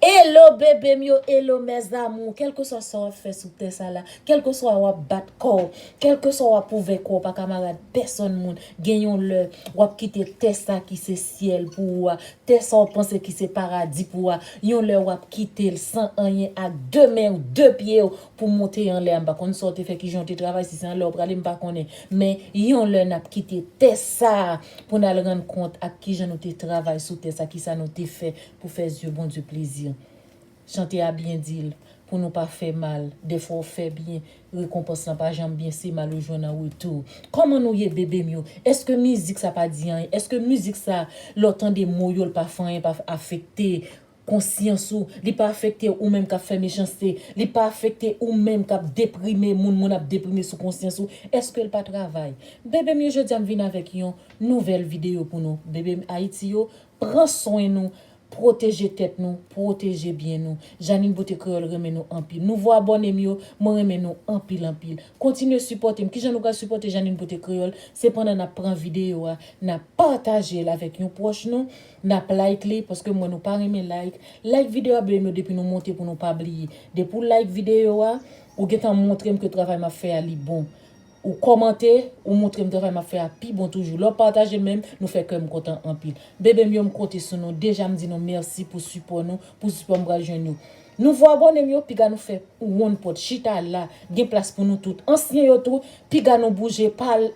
Hello bebe m yo hello mes amour kelkeswa sa wap fè sou tè sa la kelkeswa wap bat kòw kelkeswa wap pwouve kòw pa kamarad pèsòn moun gen yon lè wap kite tè sa ki se syèl pou ou a tè sa ou panse ki se paradi pou ou a yon lè wap kitel san anyen ak de men ou de pye ou pou monte anlè a m pa konn sa ou te fè kijan ou te travay si se anlè ou prale m pa konnen men yon lè nap kite tè sa pou nal rann kont ak kijan nou te travay sou tè sa kisa nou te fè Pou fè zye Bondye plezi. Chante a byen di l, Pou nou pa fè mal, dèfwa w fè byen, rekonpans lan pa janm byen se mal ou jwenn an retou. Kòman nou ye bebe m yo? Èske mizik sa pa di anyen? Èske mizik sa lè w tande mo yo l pa fè anyen, pa afekte konsyans ou, li pa afekte ou menm k ap fè mechanste, li pa afekte ou menm k ap deprime moun, moun ap deprime sou konsyans ou, èske l pa travay? Bebe m yo jodi a m vin avèk yon nouvèl videyo pou nou. Bebe m Ayiti yo, Pran swen nou, pwoteje tèt nou, pwoteje byen nou. Jeanine Beauté Créole renmen nou anpil. Nouvo abòne m yo, mwen renmen nou anpil anpil. Kontinye sipòte m. Kijan nou pral sipòte Jeanine Beauté Créole? Se pandan n ap pran videyo a, n ap pataje l avèk yon pwòch nou, n ap like li, paske m wè nou pa renmen like. Like videyo a bby m yo depi nou monte pou nou pa bliye. Depi w like videyo a, ou gentan montre m ke travay m ap fè a li bon. Ou kòmante, ou moutrem travay map fè a pi bon toujou. Lè w pataje menm, nou fè kè m kontan anpil. Bebe m yo m konte sou nou, deja m di nou mèsi pou sipò nou, pou sipò m pral jwenn yo. Nouvo abòne m yo, piga nou fè wonn pòt, chita la, gen plas pou nou tout. Ansyen yo tou, piga nou bouje, pale,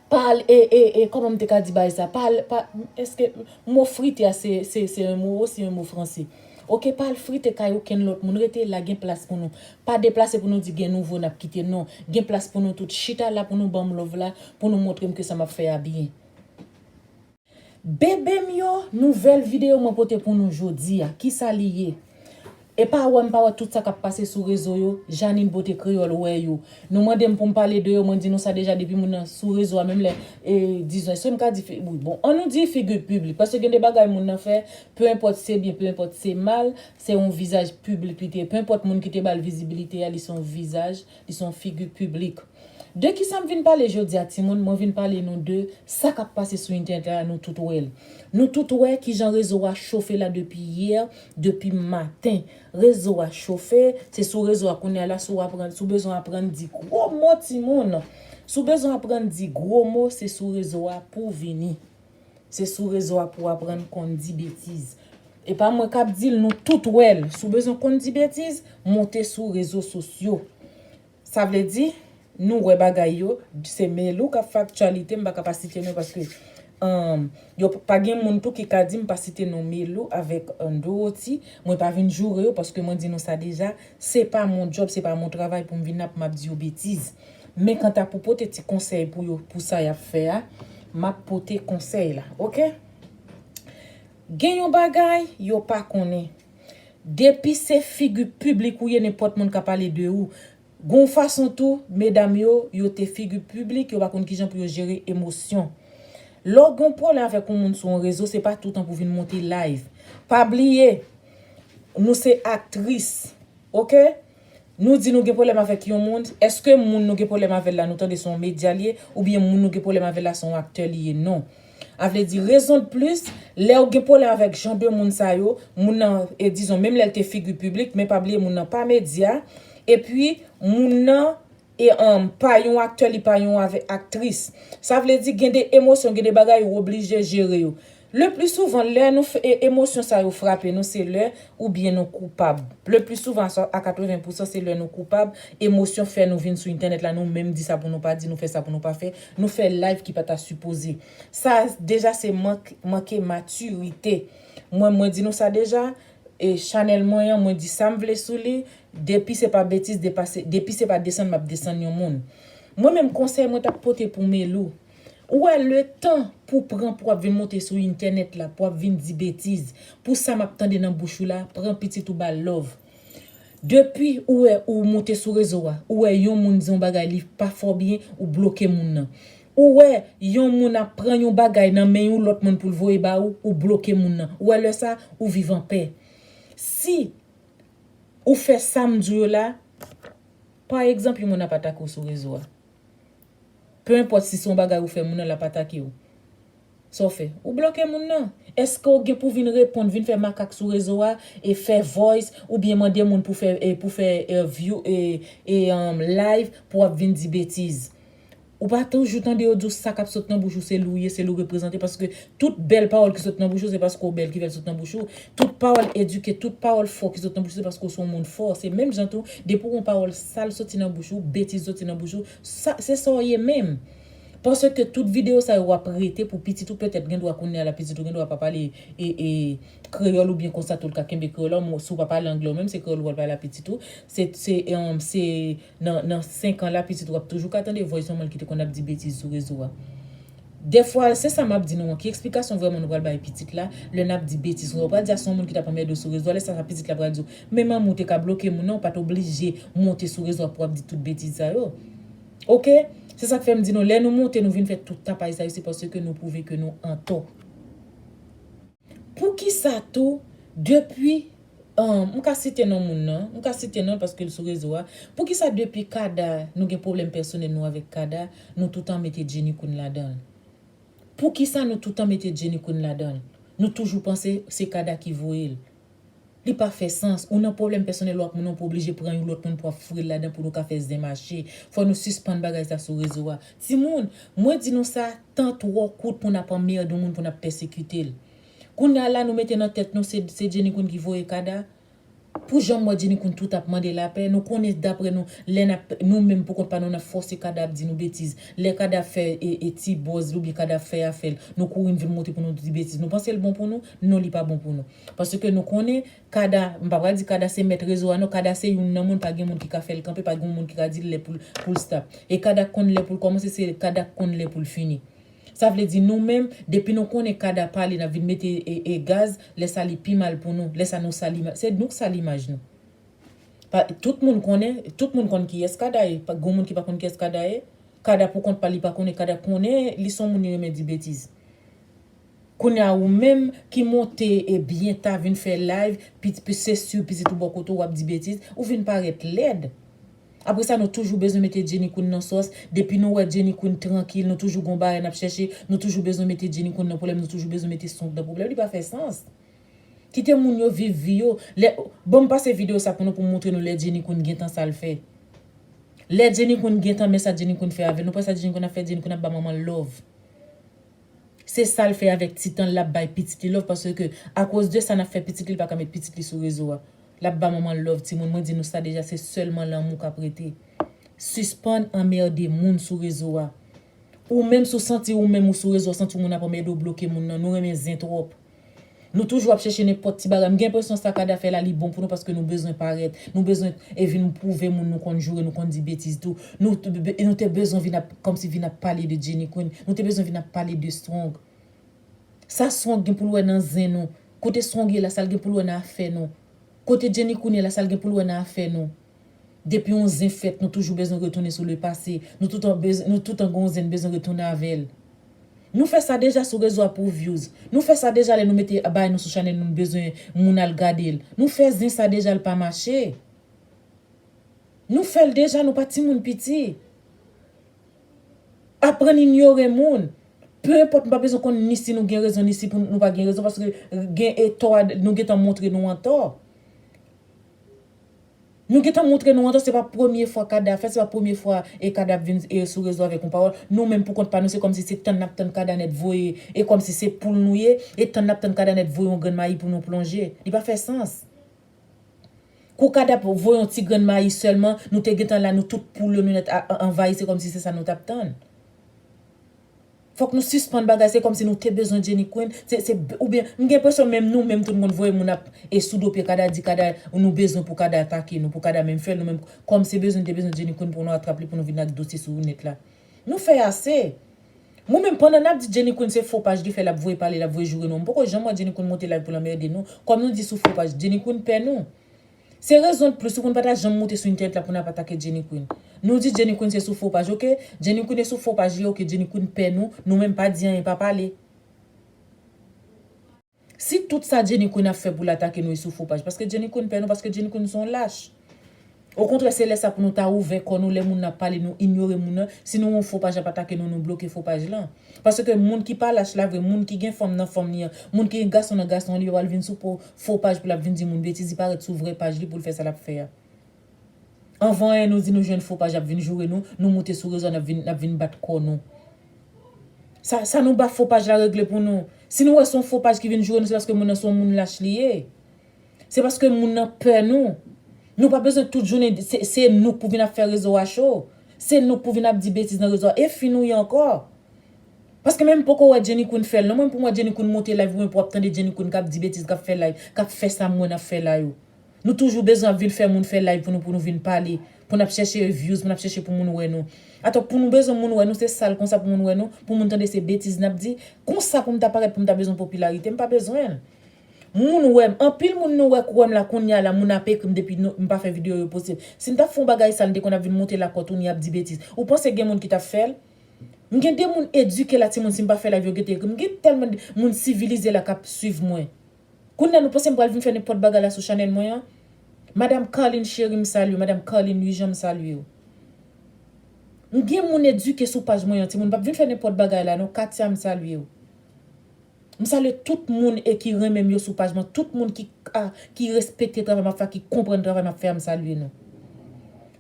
pa al e e e kòman m te ka di bagay sa pa al pa èske mo frite a se se se yon mo se yon mo franse ok pa al frite kay okenn lòt moun rete la gen plas pou nou pa deplase pou nou di gen nouvo n ap kite non gen plas pou nou tout chita la pou nou ban m love la pou nou montre m ke sa m ap fè a byen. Bebe m yo nouvèl video mwen pote pou nou jodia kisa li ye epa wèm pa wè tout sa kap pase sou rezo yo Jeanine beauté créole wè yo nou mandem poum pale de yo mwen di nou sa deja depi moun nan sou rezo a menm lè e dizon eskem ka di fi wi bon an nou di figure publique paske gen de bagay moun nan fè peu enpòt se byen peu enpòt se mal se yon vizaj publique li te peu enpòt moun ki te bal vizibilite a li son vizaj li son figure publique. De kisa m vin pale jodia timoun mwen vin pale nou de sa kap pase sou entènèt la nou tout wè l nou tout wè kijan rezo a chofe la depi yè depi maten rezo a chofe se sou rezo a kounya la si w aprann si w bezwen aprann di gwo mo timoun si w bezwen aprann di gwo mo se sou rezo a pou w vini se sou rezo a pou w aprann konn di betiz e pa mwen kap di l nou tout wè l si w bezwen konn di betiz monte sou rezo sosyo Sa vle di Nou wè bagay yo se melou kap fè aktyalite m paka pa site nou paske yo pa gen moun tou ki ka dim pa site non melou avèk doroti mwen pa vin joure yo paske mwen di nou sa deja se pa mon djòb se pa mon travay poum vin la poum ap di yo betiz men kanta pou pote ti konsèy pou yo pou sa yap fè a map pote konsèy la ok gen yon bagay yo pa konnen Depi se figu piblik ou ye nenpòt moun ka pale de ou. Gon fason tou, medam yo, yo te figu piblik, yo pa konn kijan pou yo jere emosyon. Lè w gon pwoblèm avèk yon moun sou yon rezo se pa toutan pou vin monte live. Pa bliye, nou se aktris. Ok? Nou di nou gen pwoblèm avèk yon moun, èske moun nou gen pwoblèm avè l la nou tande se yon medya l ye oubyen moun nou gen pwoblèm avè l la se yon aktè li ye non. Avledi rezon de plis, lè ou gen pwoblèm avèk jan de moun sa yo, moun nan e dizon menm lè l te figi piblik men pa bliye moun nan pa medya epi moun nan E anm pa yon aktè li pa yon avè aktris. Sa vle di gen de emosyon gen de bagay ou oblije jere yo. Le pli souvan lè nou fè e emosyon sa yo frape nou se lè ou byen nou koupab. Le pli souvan a sa a 80 pousan se lè nou koupab emosyon fè nou vin sou entènèt la nou menm di sa pou nou pa di nou fè sa pou nou pa fè nou fè live ki pa ta sipoze. Sa a deja se mank manke matirite. Mwen mwen di nou sa deja Chanel mwen an mwen di sam vle sou li depi se pa betiz depase depi se pa desann map desann yon moun mwen menm konsèy mwen tap pote pou Melou ou wè letan pou pran pou wap vin monte sou intènèt la pou wap vin di betiz pou sa map tande nan bouch ou la pran pitit ou bal lòv depi ou wè ou monte sou rezo a ou wè yon moun di yon bagay li pa fè w byen ou bloke moun nan. Ou wè Yon moun ap pran Yon bagay nan men Yon lòt moun poul voye ba ou, ou bloke moun nan, ou wè lè sa ou viv anpè. Si Ou fè Sam di w yo la, pa egzanp Yon moun ap atake w sou rezo a, pe enpòt si se Yon bagay ou fè moun nan lap atake w. Sa w fè? Ou bloke moun nan? Eske w gen pou vin reponn, vin fè makak sou rezo a, e fè voice, oubyen mande moun pou fè pou fè view live pou ap vin di betiz? Ou pa toujou tande yo di w sa kap sot nan bouch ou se li w ye, se li w reprezante paske tout bèl pawòl ki sot nan bouch ou se paske w bèl ki fè l sot nan bouch ou, tout pawòl edike, tout pawòl fò ki sot nan bouch ou se paske w se yon moun fò, se menm jan tou depi w gen yon pawòl sal soti nan bouch ou, betiz soti nan bouch ou, sa se sa w ye menm. Paske tout video sa yo wap rete pou pitit ou petèt gen dwa kounyea la pitit ou gen dwa pa pale kreyòl oubyen konsa tou li ka kenbe kreyòl an si ou pa pale anglè ou menm se kreyòl ou pral pale a pitit ou se nan 5 an la pitit ou ap toujou ka tande voice manman l ki te konn ap di betiz sou rezo a dèfwa se sa map di nou an ki eksplikasyon vrèman nou pral bay pitit la lè nap di betiz konsa ou pral di a se yon moun ki tap anmède w sou rezo a lè sa pitit la pral di w men manmi ou te ka bloke moun nan ou pat oblije monte sou rezo a pou ap di tout betiz sa yo. Ok! Se sak fè m di nou lè nou moute nou vin fè tout tapay sa yo se paske nou pwouve ke nou antò. Poukisa tou depi m ka site non moun nan, m ka site non l paske l sou rezo a, poukisa depi Kada nou gen pwoblèm pèsonèl nou avèk Kada nou toutan mete Jenny Queen ladan l? Poukisa nou toutan mete Jenny Queen ladan l? Nou toujou panse se Kada ki voye l. Li pa fè sans. Ou nan pwoblèm pèsonèl ou ak moun nan pou oblije pran yon lòt moun pou ap fril ladan pou nou ka fè zen mache. Fò nou sispann bagay sa sou rezo a. Timoun, mwen di nou sa, tan twò kout pou n ap anmerde yon moun pou n ap pèsekite l. Kounye a la nou mete nan tèt nou se se Jenny Queen ki voye kada. Pou jan m wè Jenny Queen tout ap mande lapè, nou konnen daprè nou lè n ap nou menm pou kont pa nou n ap fòse kada ap di nou betiz. Lè kada ap fè ti bòz li oubyen kada ap fè afè l, nou kouri n vin monte pou nou di betiz. Nou panse l bon pou nou? Non li pa bon pou nou. Paske nou konnen Kada, m pa pral di Kada se mèt rezo a non, Kada se youn nan moun pa gen moun ki ka fè l kanpe, pa gen yon moun ki ka di l lè pou l pou l stop. E Kada k konn lè pou l kòmanse, se Kada k konn lè pou l fini. Sa vle di nou menm, depi nou konnen Kada pale n ap vin mete e gaz, lè sa li pi mal pou nou, lè sa nou sal imaj, se nou k sal imaj nou. Pa tout moun konnen, tout moun konn kiyès Kada ye, pa gen yon moun ki pa konn kiyès Kada ye. Kada pou kont pa l li pa konnen, Kada konnen li s on moun li renmen di betiz. Kounya ou menm ki monte e byen ta vin fè live ppi se su pitit ou bò kote ou wap di betiz ou vin parèt lèd apre sa nou toujou bezwen mete Jenny Queen nan sòs depi nou wè Jenny Queen trankil nou toujou gon bagay nap chèche nou toujou bezwen mete Jenny Queen nan pwoblèm nou toujou bezwen mete Song nan pwoblèm li pa fè sans kite moun yo viv vi yo lè banm pase video sa pou nou poum moutre nou lè Jenny Queen gentan sal fè lè Jenny Queen gentan men sa Jenny Queen fè avèl nou pa wè sa Jenny Queen ap fè Jenny Queen ap ba manmanl love. Se sal fè avèk ti tanl lap bay pitit li love paske a koz de sa nap fè pitit li paka met pitit li sou rezo a lap ba manmanl love timoun mwen di nou sa deja se sèlman lanmou kap rete sispann anmerde moun sou rezo a ou menm sou santi ou menm ou sou rezo a santi w moun ap anmède w bloke moun nan nou renmen zen tròp. Nou toujou ap chèche nenpòt ti bagay. M gen enpresyon sa Kada fè la li bon pou nou paske nou bezwen parèt. Nou bezwen e vin pwouve moun nou konn joure, nou konn di betiz tou. Nou nou te bezwen vin ap kòmsi vin ap pale de Jenny Queen. Nou te bezwen vin ap pale de Strong. Sa Strong gen pou l wè nan zen nou? Kote Strong ye la sa l gen pou l wè nan afè nou? Kote Jenny Queen ye la sa l gen pou l wè nan afè nou? Depi yon zen fèt nou toujou bezwen retounen sou le pase, nou toutan bezw nou toutan gen yon zen n bezwen retounen avèl. Nou fè sa deja sou rezo a pou vyouz, nou fè sa deja lè nou mete abay nou sou chanèl nou n bezwen moun al gade l, nou fè zen sa deja l pa mache. Nou fèl deja nou pa timoun piti. Aprann inyore moun. Peu enpòt m pa bezwen konn ni si nou gen rezon ni si pou nou pa gen rezon paske gen e tò a nou gentan montre nou an tò. Nou gentan montre nou antan se pa premye fwa kada fèt, se pa premye fwa e kada ap vin e sou rezo avèk yon pawòl, nou menm pou kont pa nou se kòmsi se tann nap tann kada nèt voye e kòmsi se poul nou ye e tann nap tann kada nèt voye yon grenn mayi pou nou plonje li pa fè sans kou kada ap voye yon ti grenn mayi sèlman nou te gentan la nou tout poul yo nou nèt anvayi se kòmsi se sa nou tap tann. Fok nou sispann bagay se komsi nou te bezwen Jenny Queen se se ou byen m gen enpresyon menm nou menm tou nou konn voye moun ap e sou do pye kada di kada nou bezwen pou kada atake nou pou kada menm fèl nou menm kòm se bezwen nou te bezwen Jenny Queen pou nou atrap li pou nou vin ak dosye sou net la nou fè ase mwen menm pandan nap di Jenny Queen se fo paj li fè lap voye pale lap voye joure nou an m poko janm wè Jenny Queen monte live poul anmerde nou kòm nou di sou fo paj Jenny Queen pè nou Se rezon de plus ou konn pata janm moute sou internet la pou nap atake Jenny Queen. Nou di Jenny Queen se sou fo paj ok. Jenny Queen e sou fo paj li ok Jenny Queen pè nou, nou menm pa di anyen pa pale. Si tout sa Jenny Queen ap fè poul atake nou e sou fo paj paske Jenny Queen pè nou paske Jenny Queen son lach. Okontrè se lè sa pou nou ta ouvè kò nou lè moun nan ap pale nou inyore moun nan, si nou wè yon fo paj ap atake nou nou bloke fo paj lan. Paske moun ki pa lach la vre moun ki gen fanm nan fanm li an, moun ki gen gason nan gason an li pa pral vin sou po Fo paj pou lap vin di moun betiz li pa ret sou vrè paj li poul fè sa lap fè a anvan anyen nou di nou jwenn fo paj ap vin joure nou nou moute sou rezo a nap vin nap vin bat kò nou sa sa nou ba fo paj la regle pou nou si nou wè son fo paj ki vin joure nou se paske moun nan son moun lach li ye se paske moun nan pè nou nou pa bezwen tout jounen se se nou k pou vin ap fè rezo a cho se nou k pou vin ap di betiz nan rezo a e fi nou ye ankò. Paske menm poko wè Jenny Queen fèl non mwen pou mwen Jenny Queen monte live oubyen pou ap tande Jenny Queen kap di betiz kap fè live kap fè sa mwen ap fè la yo nou toujou bezwen ap vin fè moun fè live pou nou pou nou vin pale pou nap chèche views pou nap chèche pou moun wè nou atò pou nou bezwen moun wè nou se sal konsa pou moun wè nou pou moun tande se betiz nap di konsa poum ta parèt poum ta bezwen popilarite mpa bezwenl moun wèm anpil moun nou wè k wèm la kounya la moun ap ekrim depi nou mpa fè video yo posib sim tap fè yon bagay sal mte konn ap vin monte lakòt ou ni ap di betiz ou panse gen moun ki tap fèl. M gen de moun edike la timoun si m pa fè live yo gete ekri m gen tèlman de moun sivilize la kap swiv mwen kounya nou panse m pral vin fè nenpòt bagay la sou chanèl mwen an madam carline cheri m salye w madam carline luijean m salye w m gen moun edike sou paj mwen an timoun m pap vin fè nenpòt bagay la non katia m salye w. M salye tout moun e ki renmenm yo sou paj mwen tout moun ki a ki respekte travay map fè a ki konprann travay map fè a m salye nou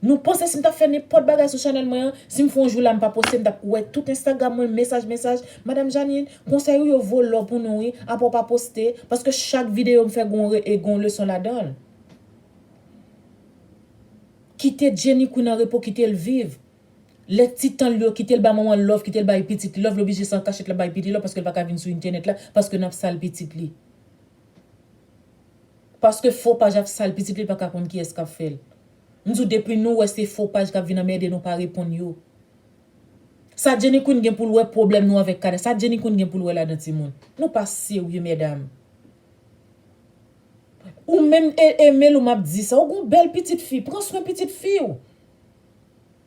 nou panse sim tap fè nenpòt bagay sou chanèl mwen an sim fè yon jou la m pa poste m tap wè tout enstagram mwen mesaj mesaj madam Jeanine konsèy ou yo vo lò pou nou wi apre w pa poste paske chak videyo m fè gon re e gon leson ladanl kite Jenny Queen an repo kitel viv Lè ti tanl yo kitel ba manmanl love kitel bay pitit li love li oblije se an kachèt lap bay pitit li love paskel paka vin sou entènèt la paske nap sal pitit li paske fo paj ap sal pitit li li paka konn kiyès kap fèl m di w depi nou wè se fo paj kap vin anmède nou pa reponn yo sa Jenny Queen gen poul wè pwoblèm nou avèk kanè sa Jenny Queen gen poul wè ladan timoun nou pa serye mèdam ou menm Emelo map di sa ou gon bèl pitit fi pran swen pitit fi w.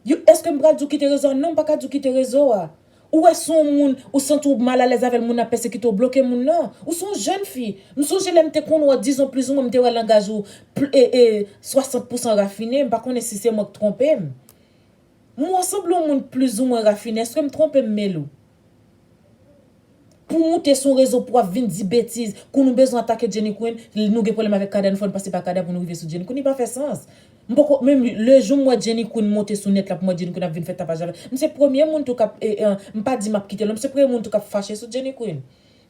Yo eske m pral di w kite rezo a non m paka di w kite rezo a ou wè sou yon moun ou santi w mal alèz avèl moun nan ap pèsekite w bloke moun nan ou son jèn fi m sonje lèm te konn wè w dizon plizou mwen m te wè langaj ou e 60 pousan rafine m pa konnen si se mwen k twonpe m m wè w sanble yon moun plizou mwen rafine eske m twonpe m Melou. Pou moute sou rezo pou ap vin di betiz kou nou bezwen atake Jenny Queen l nou gen pwoblèm avèk Kada n fò n pase pa Kada pou nou rive sou Jenny Queen li pa fè sans m poko men le jou m wè Jenny Queen moute sou nèt la pou m wè Jenny Queen ap vin fè tapaj avè m se premye moun tou k ap m pa di m ap kite l non m se premye moun tou k ap fache sou Jenny Queen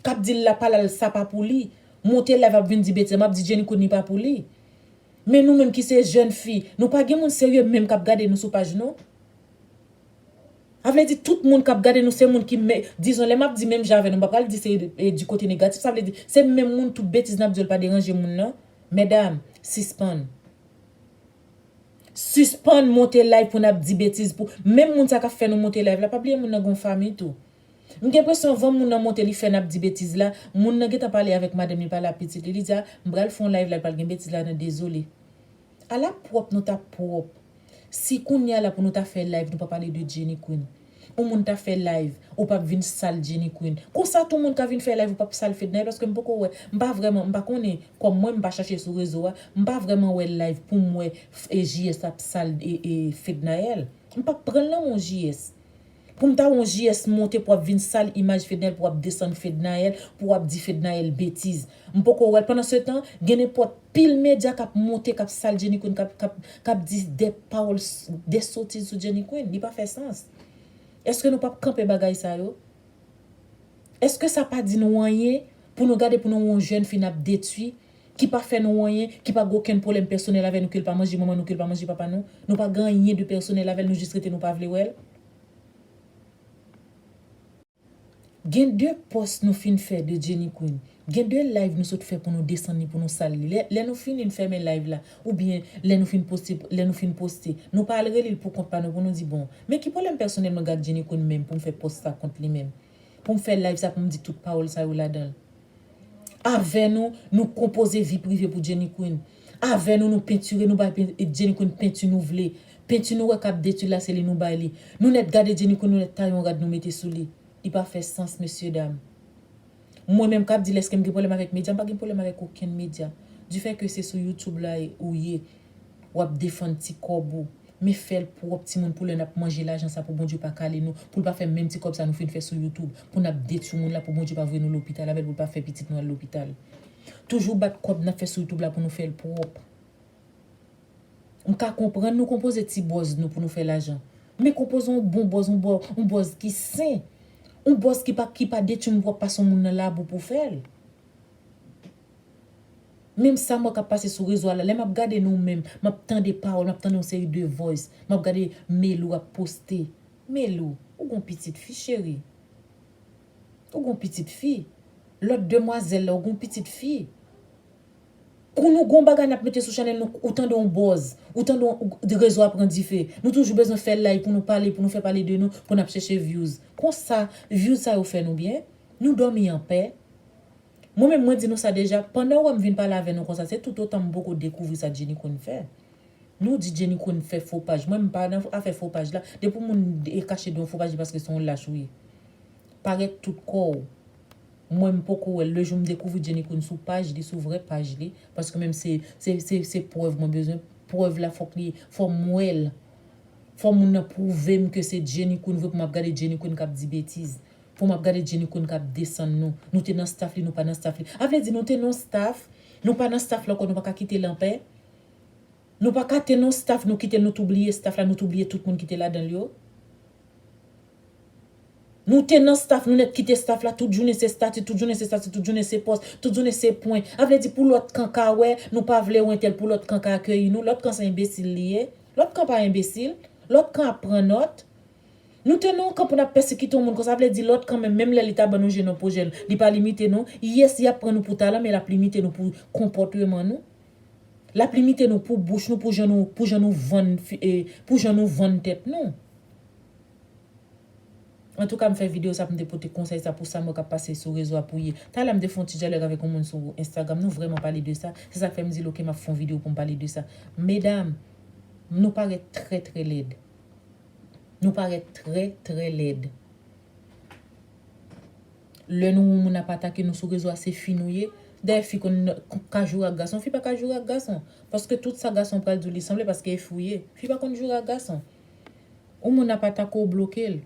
k ap di l la pa la l sa pa pou li moute live ap vin di betiz m ap di Jenny Queen li pa pou li men nou menm ki se jèn fi nou pa gen moun serye menm k ap gade nou sou paj nou. Sa vle di tout moun kap gade nou se moun ki men, dizon lè map di menm jan avè nou m pa pral di se di kote negatif sa vle di se menm moun tout betiz nap di yo l pa deranje moun nan mèdam sispann sispann monte live pou nap di betiz pou menm moun sa kap fè nou monte live la pa bliye moun nan gen yon fanmi tou m gen enpresyon avan moun nan monte li fè nap di betiz la moun nan gentan pale avèk madanm li pale a pitit li li di a m pral fè yon live la pral gen betiz ladan dezole. Ala pwòp nou tap pwòp si kounya la pou nou ta fè live nou pa pale de Jenny Queen ou moun ta fè live ou pap vin sal Jenny Queen konsa tou moun ka vin fè live ou pap sal Fednaelle paske m poko wè m pa vrèman m pa konnen kòm mwen m pa chache sou rezo a m pa vrèman wè live poum wè JS ap sal Fednaelle m pap pranl nan men w JS. Poum ta wè yon JS monte pou ap vin sal imaj Fednaelle pou ap desann Fednaelle pou ap di Fednaelle betiz. M poko wèl pandan se tan gen nenpòt pil medya kap monte kap sal Jenny Queen kap kap kap di dè pawòl dè sotiz sou Jenny Queen li pa fè sans. Eske nou pap kanpe bagay sa yo? Eske sa pa di nou anyen pou nou gade pou nou wè yon jèn fi nap detwi ki pa fè nou anyen, ki pa gen okenn pwoblèm pèsonèl avè nou ke l pa manje manman nou ke l pa manje papa nou, nou pa gen anyen de pèsonèl avè l nou jis rete nou pa vle wè l. Gen de pòs nou fin fè de Jenny Queen, gen de live nou sot fè pou nou desann li pou nou sal li, lè nou fini n fèmen live la oubyen lè nou fin poste lè nou fin poste nou pa al rele l pou kont pa nou pou nou di bon men ki pwoblèm pèsonèl mwen gen ak Jenny Queen menm pou m fè pòs sa kont li menm Pou m fè live sa pou m di tout pawòl sa yo ladan l. Avè nou, nou konpoze vi prive pou Jenny Queen. Avè nou, nou pentire, nou bay Jenny Queen penti nou vle. Penti nou wè k ap detwi l la se li nou bay li. Nou nèt gade Jenny Queen nou nèt taye yon rad nou mete sou li. Li pa fè sans mesye dam. Mwen menm k ap di l èske m gen pwoblèm avèk medya m pa gen pwoblèm avèk okenn medya. Difè ke se sou YouTube la ou ye. Wap defann ti kòb ou. Men fèl pwòp timoun pou lè nap manje lajan sa pou Bondye pa kale nou, poul pa fè menm ti kòb sa nou fin fè sou YouTube, pou nap detwi moun la pou Bondye pa voye nou lopital avèl poul pa fè pitit nou al lopital. Toujou bat kòb nap fè sou YouTube la pou nou fèl pwòp. Mka konprann nou konpoze ti bòz nou pou nou fè lajan. Men konpoze yon bon bòz yon bò yon bòz ki sen. Yon bòz ki pa ki pa detwi moun pwòp pa son moun nan labou pou fèl. Menm sa m wè k ap pase sou rezo a la, lè m ap gade nou menm, m ap tande pawòl, m ap tande yon seri de voice, m ap gade Melou ap poste. Melou, ou gon pitit fi cheri. Ou gon pitit fi. Lòt demwazèl la, ou gon pitit fi. Kou nou gon bagay n ap mete sou chanèl nou, ou tande yon bòz, ou tande yon, rezo a pran dife. Nou toujou bezwen fè live pou nou pale, pou nou fè pale de nou, pou n ap chèche vyouz. Konsa, vyouz sa yo fè nou byen? Nou dòmi anpè? Mwen menm mwen di nou sa deja pandan w wè m vin pale avè nou konsa se toutotan m poko dekouvri sa Jenny konn fè. Nou di Jenny konn fè fo paj mwen m pa nan afè fo paj la. Depi w moun kache do yon fo paj se paske se yon lach ou ye. Parèt tout kò w. Mwen m poko wè l. Le jou m dekouvri Jenny konn sou paj li sou vrè paj li paske menm se se se prèv mwen bezwen prèv la fòk li fò m wè l. Fò moun nan pwouve m ke se Jenny konn vre pou m ap gade Jenny konn k ap di betiz. Pou map gade jenny queen kap desann nou nou te nan staff li nou pa nan staff li a vle di nou te nan yon staff nou pa nan staff la ankò nou paka kitel anpè nou paka te nan yon staff nou kitel nou tou bliye staff la nou tou bliye tout moun ki te ladanl yo nou te nan staff nou nèt kite staff la tout jounen se stati tout jounen se stati tout jounen se pòs tout jounen se pwen a vle di pou lòt kan ka wè nou pa vle wè entèl pou lòt kan ka akeyi nou lòt kan se enbesil li ye lòt kan pa enbesil lòt kan ap pran nòt Nou te non kan pou nap pèsekite yon moun konsa vle di lòt kanmenm menm lè li ta ban nou je nan pwojè l li pa limite nou yes yap pran nou pou talan men lap limite nou pou konpòteman nou lap limite nou pou bouch nou pou jan nou pou jan nou vann pou jan nou vann tèt nou antouka m fè video sa pou m te pote konsèy sa pou sa m wè kap pase sou rezo a pou ye talè m te fè yon ti dyalòg avèk yon moun sou enstagram nou vrèman pale de sa se sak fè m di l ok map fè yon video pou m pale de sa medam nou parèt trè trè lèd. Nou parèt trè trè lèd. Lè nou won moun ap atake nou sou rezo a se fi nou ye. Dayè fi konn ka joure ak gason. Fi pa ka joure ak gason. Paske tout sa gason pral di w li sanble paske e fi w ye. Fi pa konn joure ak gason. Ou moun ap atake w bloke l.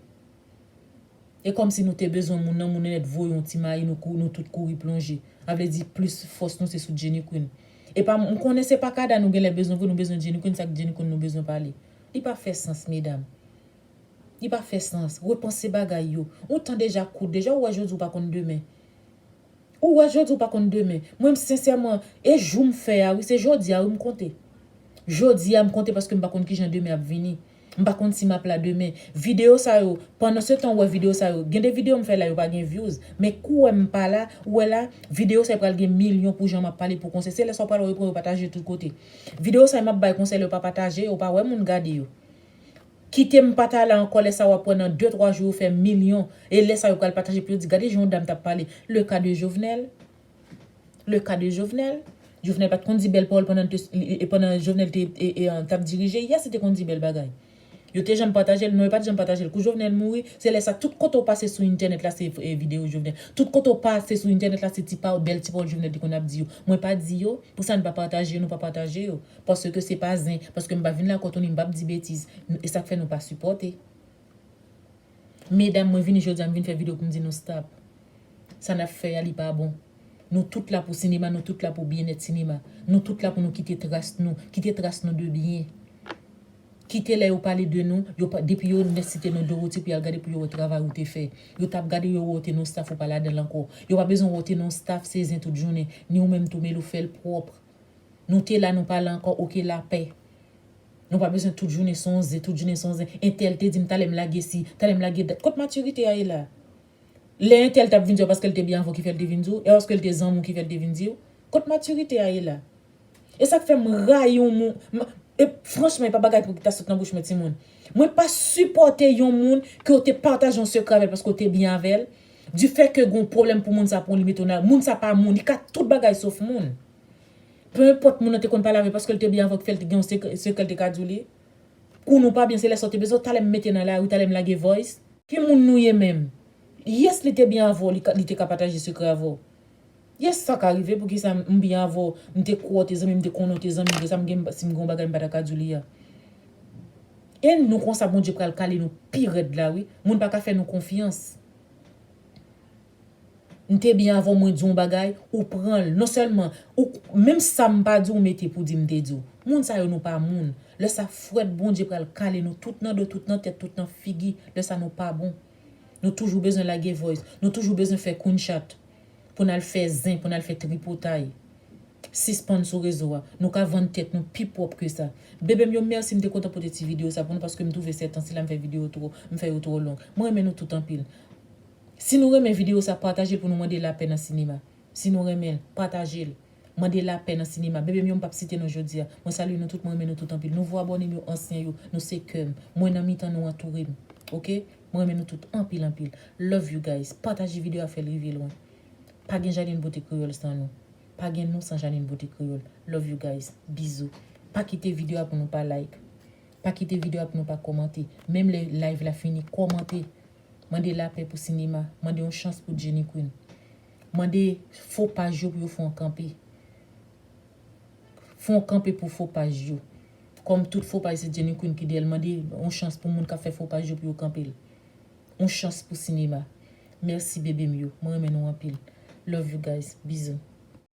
E kòmsi nou te bezwen moun nan, moun nan nèt voye yon ti mayi nou kou nou tout kouri plonje. A vle di plis fòs nou se sou Jenny Queen. Epa m konnen se pa kada nou genlè bezwen vre nou bezwen Jenny Queen sak Jenny Queen nou bezwen pale. Li pa fè sans medam. Li pa fè sans. Repanse bagay yo. Ou tan deja kout. Deja ou wè jodi ou pa konn demen. Ou wè jodi ou pa konn demen. Mwen m sensèman e jou m fè a wi se jodi a wi m konte. Jodi a m konte paske m pa konn kijan demen ap vini. M pa konn si m ap la demen. Videyo sa yo pandan se tan ou wè videyo sa yo gen de videyo m fè la yo pa gen vyouz men kou wè m pa la ou wè la videyo sa yo pral gen milyon pou jan m ap pale pou konsè se lè sa ou pral wè yo pran yo pataje tout kote. Video sa yo map bay konsèy lè yo pa pataje yo pa wè moun gade yo kitem pa ta la ankò lè sa wap wè nan 2 3 jou yo fè milyon e lè sa yo pral pataje pou yo di gade jan yon dam tap pale le cas de Jovenel le cas de Jovenel Jovenel pat konn di bèl pawòl pandan pandan Jovenel te tap dirije yes li te konn di bèl bagay. Yo te janm patajel? Non yo pat janm patajel. Kou Jovenel mouri, se lè sa tout kote ou pase sou entènèt la se video Jovenel. Tout kote ou pase sou entènèt la se ti pawòl, bèl ti pawòl Jovenel te konn ap di yo. Mwen pa di yo, pou sa n pa pataje yo nou pa pataje yo. Paske se pa zen, paske m pa vin lakòtonin m pap di betiz. E sak fè nou pa sipòte. Medam mwen vini jodia m vin fè video poum di nou stop sa nap fè a li pa bon nou tout la pou sinema nou tout la pou byenèt sinema nou tout la pou nou kite tras nou kite tras nou de byen kite lè yo pale de nou yo pa depi yo nè site non Dorothy pou yal gade pou yo wè travay ou te fè yo tap gadew yo wè ou te nan yon staff ou pa ladanl ankò yo pa bezwen wè ou te nan yon staff se zen tout jounen ni ou menm tou melou fèl pwòpr nou te la nou pa la ankò ok lapè. Nou pa bezwen tout jounen son zen, tout jounen son zen. Entèl te di m talè m lage si, talè m lage dat. Kot matirite a ye la? Lè entèl t ap vin di w paske l te byen avè w ki fè l te vin di w? E paske l te zanmi w ki fè l te vin di w? Kot matirite a ye la? E sa k fè m rayi yon moun, m, e franchman e pa bagay pou ki ta sot nan bouch mwen timoun. Mwen pa sipòte yon moun ke w te pataje yon sekrè avè l paske w te byen avè l, difè ke gen yon pwoblèm pou moun sa pran w li mete w nan, moun sa pa moun, li ka tout bagay sof moun. Peu enpòt moun nan te konn pale avè paske l te byen avè w ki fè l te gen yon sekrè l te ka di w li. Kou nou pa byen se lè sa w te bezwen w talè m mete nan lari talè m lage voice. Ki moun nou ye menm? Yes li te byen avè w li te ka pataje sekrè avè w. Yes sa ka rive poukisa m byen avè w m te kwè w te zanmi m te konnen w te zanmi vresa m gen si m gen yon bagay m pa ta ka di w li a. E nou konsa Bondye pral kale nou pi rèd la wi moun pa ka fè nou konfyans. M te byen avèw mwen diw yon bagay ou pranl non sèlman ou menm sam pa diw mete pou di m te diw moun sa yo nou pa moun lè sa frèt Bondye pral kale nou tout nan do tout nan tèt tout nan figi lè sa nou pa bon nou toujou bezwen lage voice nou toujou bezwen fè kunchat pou nal fè zen pou nal fè tripotay sispann sou rezo a nou ka vann tèt nou pi pwòp ke sa bebem yo mèsi m te kontan pote ti video sa pou nou paske m twouve sètan sila m fè video twò m fè yo twò long mwen renmen nou tout anpil. Si nou renmen video sa patajel pou nou mande lapè nan sinema si nou renmenl patajel mande lapè nan sinema bebem yo m pap site non jodia mwen salye nou tout mwen renmen nou tout anpil nouvo abònem yo ansyen yo nou se kèm mwen nan mitan nou antourem ok mwen renmen nou tout anpil anpil love you guys pataje video a fèl rive lwen pa gen Janin Beauté Créole san nou pa gen nou san Janin Beauté Créole love you guys bizou pa kite video a pou nou pa like pa kite video a pou nou pa kòmante menm lè live la fini kòmante. Mande lapè pou sinema, mande yon chans pou Jenny Queen. Mande fo paj yo pou yo fè yon kanpe. Fè yon kanpe pou fo paj yo. Kòm tout fo paj se Jenny Queen ki dèyèl mande yon chans pou moun kap fè fo paj yo pou yo kanpel. Yon chans pou sinema. Merci bebe m yo. Mwen renmen nou anpil. Love you guys. Bisous.